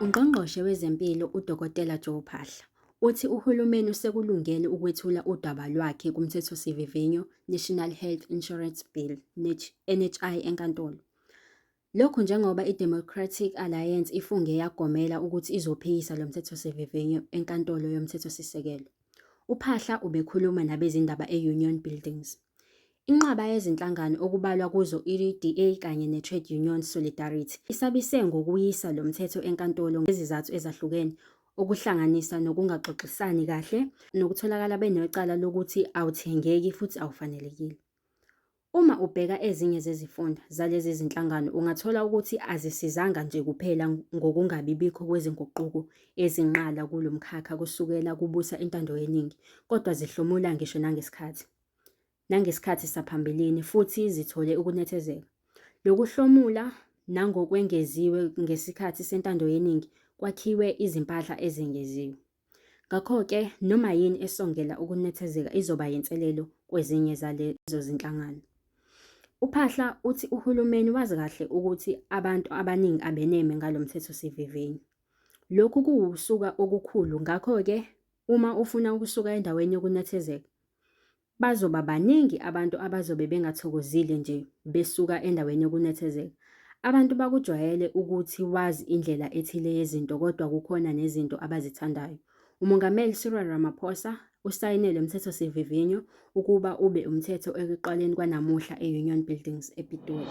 Ungqongqoshe wezempilo uDokotela Joe Phaahla uthi uhulumeni usekulungele ukwethula udaba lwakhe kumthethosivivinyo National Health Insurance Bill, NHI, enkantolo. Lokhu njengoba iDemocratic Alliance ifunge yagomela ukuthi izophikisa lo mthethosivivinyo eNkantolo yoMthethosisekelo. UPhaahla ubekhuluma nabezindaba e-Union Buildings. Inqwaba yezinhlangano okubalwa kuzo i-DA kanye ne-Trade Union Solidarity isabise ngokuyisa lo mthetho enkantolo ngezizathu ezahlukene okuhlanganisa nokungaxoxisani kahle nokutholakala benecala lokuthi awuthengeki futhi awufanelekile. Uma ubheka ezinye zezifunda zalezi zinhlangano ungathola ukuthi azisizanga nje kuphela ngokungabibikho kwezinguquko ezinqala kulo mkhakha kusukela kubusa intando yeningi kodwa zihlomula ngisho nangesikhathi nangesikhathi saphambilini futhi zithole ukunethezeka. Lokuhlomula nangokwengeziwe ngesikhathi sentando yeningi kwakhiwe izimpahla ezengeziwe. Ngakho-ke, noma yini esongela ukunethezeka izoba yinselelo kwezinye zalezo zinhlangano. UPhahla uthi uhulumeni wazi kahle ukuthi abantu abaningi abeneme ngalo mthethosivivinyo. Lokhu kuwusuka okukhulu ngakho-ke uma ufuna ukusuka endaweni yokunethezeka, Bazoba baningi abantu abazobe bengathokozile nje besuka endaweni yokunethezeka. Abantu bakujwayele ukuthi wazi indlela ethile yezinto kodwa kukhona nezinto abazithandayo. UMongameli Cyril Ramaphosa usayine lo mthethosivivinyo ukuba ube umthetho ekuqaleni kwanamuhla e-Union Buildings ePitoli.